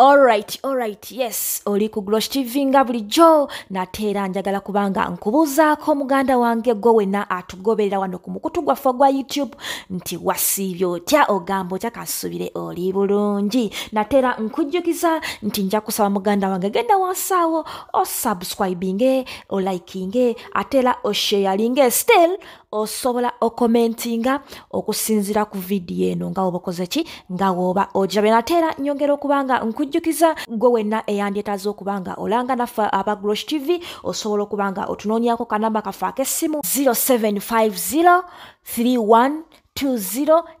Alright, alright, yes, oli ku Glosh TV nga bulijjo nate era njagala kubanga nkubuuzaako muganda wange gwe wena atugoberera wano ku mukutu gwaffe ogwa YouTube nti wasiibye otya ogamba otya kansubire oli bulungi nate era nkujjukiza nti nja kusaba muganda wange genda wansaawo osubscribinge olikinge ate era osheyalinge still osobola okomentinga okusinzira ku vidiyo eno nga woba okoze ki nga woba ogirabe nate era nyongera okuba nga nkujjukiza gwe wenna eyandyetaza okuba nga olanga naffe aba grosh tv osobola okuba nga otunoonyako kanamba kaffe ak'essimu 0750 31 20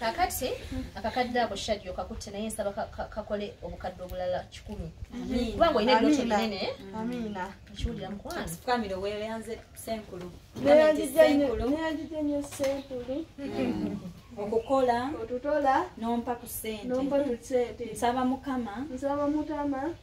kakati akakadde ako shadi okakutte naye nsaba kakole obukadde obulala kikumi kubanga olina ebiroto binene ekiwulira mukwanfukamire weyanze senkulu neyanjija nyo senkulu okukola otutola nompa ku sente nsaba mukama nsaba mutama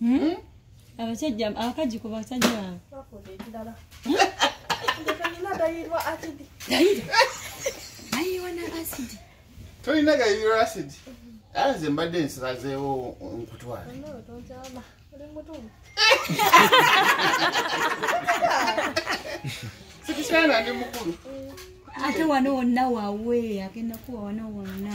Hmm? abasajja abakaji ku basajja tolina gayiro asidi ala nze mbadde nsilazeewo nkutwale sikisaana ndi mukulu ate wano wonna wawe agenda kuwa wano wonna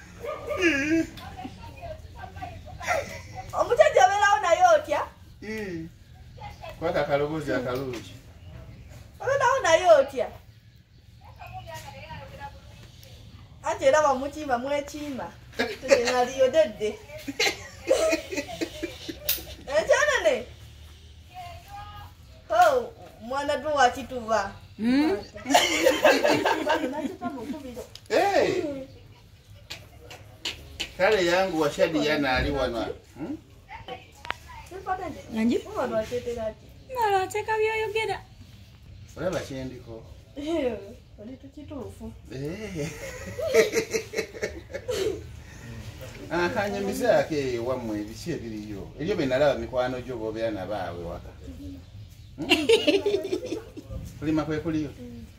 omusajja obeerawo naye otya kwaka akaloboozi akalungi obeerawo naye otya anti era bamukiima mwekiima tekenaliyodedde ekyanene mwana gwe wakituba hmm? kale yangu washadi yana ali wana hmm? nanji mala ateka byoyogera olaba kyendiko oli tukituufu eh. akanyamizaako ah, eyo wammwe ebiki ebiriyo ebyo benalaba mikwano gyo bobeera nabaawe waka kulima kwekuliyo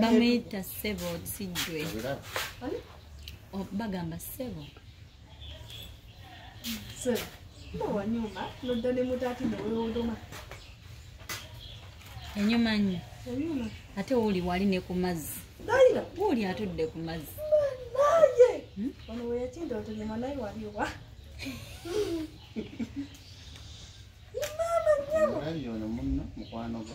bamuyita sebo sijwe oh, bagamba sebo enyuma nyo ate wuli wali ne ku mazzi wuli atudde ku mazzi hmm? mama nyabo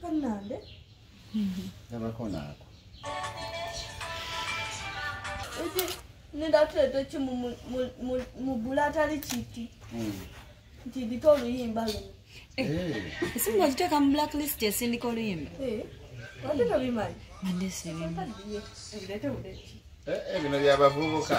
kanambe nabakonaako eki nindatuleta ki mu bula atali kiti hmm. nti ndita oluyimba luno eh, eh. esinga okiteeka mu black list esindika oluyimba eh, ate tobimanyi ebino byabavubuka